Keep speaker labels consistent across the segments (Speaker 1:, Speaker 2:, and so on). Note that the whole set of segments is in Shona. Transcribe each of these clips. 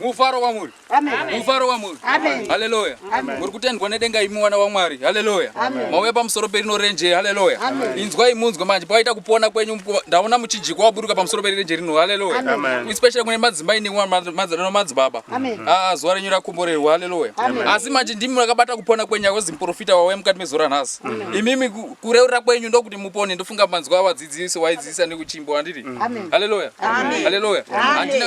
Speaker 1: mufaro wamuri mufaro wamuri haleluya
Speaker 2: muri
Speaker 1: kutendwa nedenga imi mwana wamwari haleluya mauya pamusoro perino renje haleluya inzwai munzwe manje pakaita kupona kwenyu ndaona muchijiko waburuka pamusoro perirenje rino haleluya especially kune madzimai nemadzibaba ah, zuva renyu rakomborerwa haleluya asi manje ndimi makabata kupona kwenyu akozi muprofita wauya mukati mezuva ranhasi imimi kureurira kwenyu ndokuti mupone ndofunga manzwa dzidziso waidzidzisa nekuchimbo andiri mm. haleluya haleluya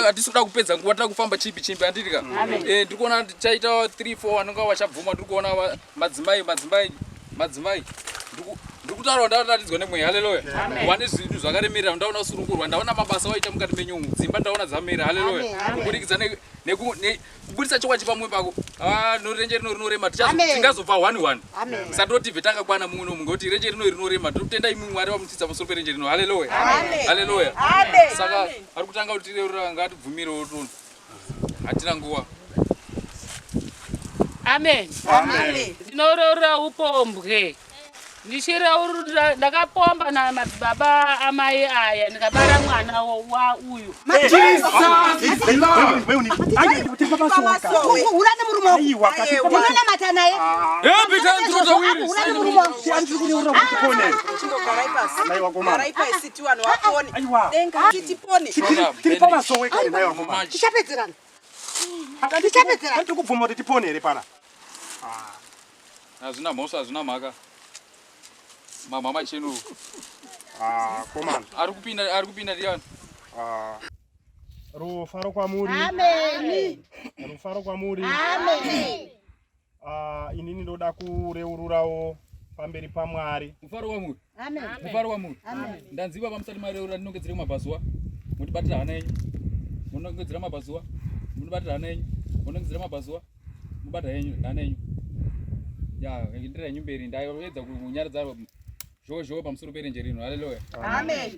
Speaker 1: hatisi kuda kupedza nguva tiri kufamba chimbi chimbi andiri ka eh, ndiri kuona chaita 3 4 vanonga vachabvuma ndiri kuona madzimai madzimai madzimai ndikutaura ndaratidzwa nemweya haleluya wane zvinhu zvakaremerera ndaona kusurukurwa ndaona mabasa waita mukati menyumu dzimba ndaona dzamera haleluya kuburikidza kubudisa chokwadi pamwe pako ah, norenje rino rinorema tingazobva one one satoti bve takakwana mumwe nomumwe ngekuti renje rino rinorema totenda imwe mwari vamutsitsa pamusoro perenje rino haleluya haleluya saka ari kutanga kuti reurira ngatibvumire wotona hatina nguva
Speaker 3: amen ndinoreurira upombwe ndichireurura ndakapomba na madzibaba amai aya ndikabara mwana wa uyu unonamata naye tichapedzerana
Speaker 1: tichapedzerana tiri kubvuma kuti tipone here pana Hazvina mhosva, hazvina mhaka. Mamha machenu. Ah,
Speaker 4: komana. Ari kupinda,
Speaker 1: ari kupinda ndiyani? Ah.
Speaker 4: Rufaro kwamuri. Amen.
Speaker 2: Rufaro
Speaker 4: kwamuri. Amen.
Speaker 2: Ah,
Speaker 4: inini ndoda kureururawo pamberi paMwari. Rufaro kwamuri.
Speaker 1: mufaro wamuri ndanzi baba musati
Speaker 2: mareura
Speaker 1: ndinongedzere kumabhazuwa mundibatira hana yenyu munongedzera mabhazuwa mundibatira hana yenyu munongedzera mabhazuwa mubata yenyu hana yenyu ya ndira yenyu mberi ndaedza kunyaradza zhowo zhowo pamusoro perenje rino haleluya amen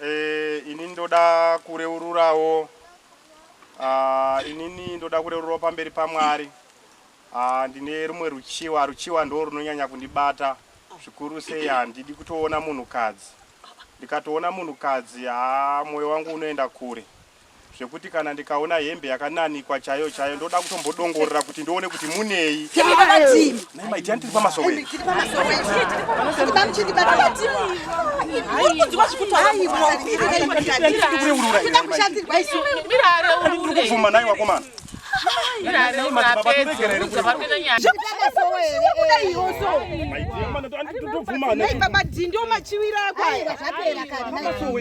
Speaker 4: Eh, ini ndoda kureururawo ah, inini ndoda kureururawo pamberi pamwari ah, ndine rumwe ruchiwa ruchiwa ndo runonyanya kundibata zvikuru sei handidi kutoona munhukadzi ndikatoona munhukadzi haa mwoyo wangu unoenda kure zvekuti kana ndikaona hembe yakananikwa chaiyo chaiyo ndoda kutombodongorera kuti ndione kuti munei maitiyani tiri pamasowe kubvuma nai wakomana baba dhi ndio
Speaker 1: machiwira akwa zvapera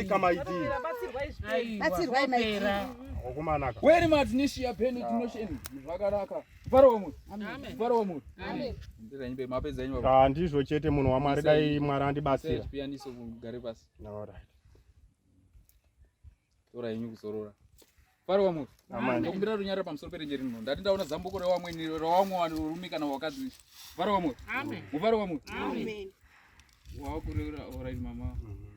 Speaker 1: kamaidi batsirwai maipera wakumanaka weri matinishiya peni tinosheni zvakanaka mufaro wamuri mufaro wamuri handizvo chete munhu wamwari
Speaker 4: dai mwari andibatsira gare
Speaker 1: pasi tora henyu kuzorora mufaro wamuri ndokumbira
Speaker 4: runyara pamusoro
Speaker 1: perenje rino ndati ndaona zambuko rewamweni rewamwe vanhu rurume kana wakadzi mufaro wamuri mufaro wamuri
Speaker 2: wawakureura
Speaker 1: orit mama mm -hmm.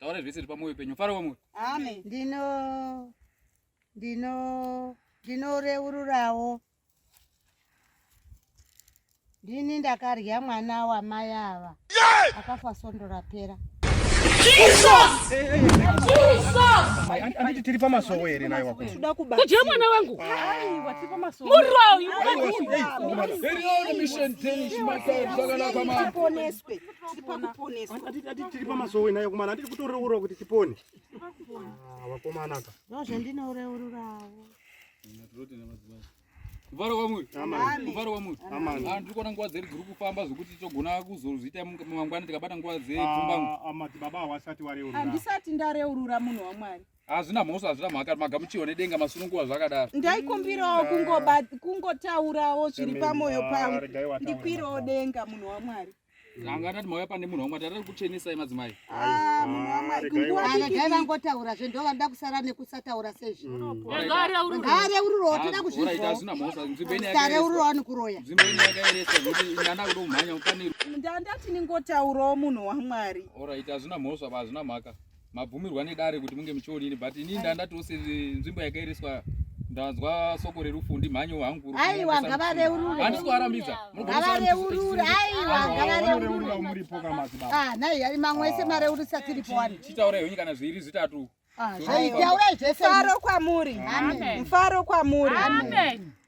Speaker 1: taura zvese zviri penyu faro wamuri amen ndino
Speaker 2: ndino ndinoreururawo ndini ndakarya mwana wamai ava akafa sondo rapera
Speaker 4: anditi tiri pamasowo here naye wakuda kudya mwana
Speaker 3: wangu muroi
Speaker 2: tiri
Speaker 4: pamasowe nayo kumana atiri kutoreurwa kuti tipone ah, vakomana ka
Speaker 2: ndozvandinoreururawo
Speaker 1: kuvara kwamuri kuvara kwamuri ah, tiri kuona nguva dzeri
Speaker 4: dziri
Speaker 1: kufamba zvokuti togona kuzozviita mangwana tikabata nguva dzepfumbamwe ah, baba hawasati
Speaker 4: wareurura handisati ndareurura
Speaker 5: munhu wamwari hazvina mhosva hazvina
Speaker 1: mhaka magamuchiwa nedenga masununguva zvakadaro ndaikumbirawo
Speaker 5: kungotaurawo zviri pamwoyo pangu ndikwirawo denga munhu wamwari anga
Speaker 1: atati mauya pane munhu wamwari tatati kuchenesai madzimai ah,
Speaker 5: munhuwamwaregai vangotaura
Speaker 2: zve ndo vanoda kusara nekusataura sezvinhare ururawo toda kuzvizvare
Speaker 1: ururawo nikuroya ndandati
Speaker 5: ningotaurawo munhu wamwari orit hazvina mhosva
Speaker 1: hazvina mhaka mabvumirwa nedare kuti munge muchionini but ini ndandatoo senzvimbo yakairiswa ndanzwa soko rerufu ndimhanyo hangu aiwa ngavareurure
Speaker 2: handisi kuvarambidza
Speaker 1: ngavareurure
Speaker 2: aiwa ngavareurure
Speaker 4: ah, nhai ari mamwe ese
Speaker 2: mareurisa tiripo wani chitaurai henyu kana zviiri
Speaker 1: zvitatu ah, zvaitaurai
Speaker 2: zvese mfaro kwamuri
Speaker 5: mfaro
Speaker 2: kwamuri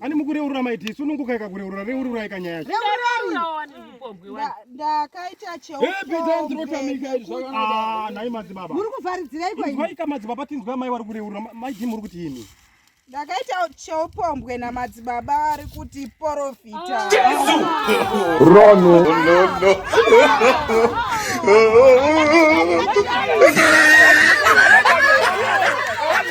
Speaker 2: ani mukureurura maiti
Speaker 4: isu nunguka ikakureurura reururai kanyaya ndakaita
Speaker 5: cheoanai
Speaker 4: madzibaba muri kuvharidzireikoika
Speaker 2: madzibaba tinzwa
Speaker 4: mai wari kureurura maiti muri kuti imi ndakaita
Speaker 5: cheupombwe namadzibaba vari kuti porofita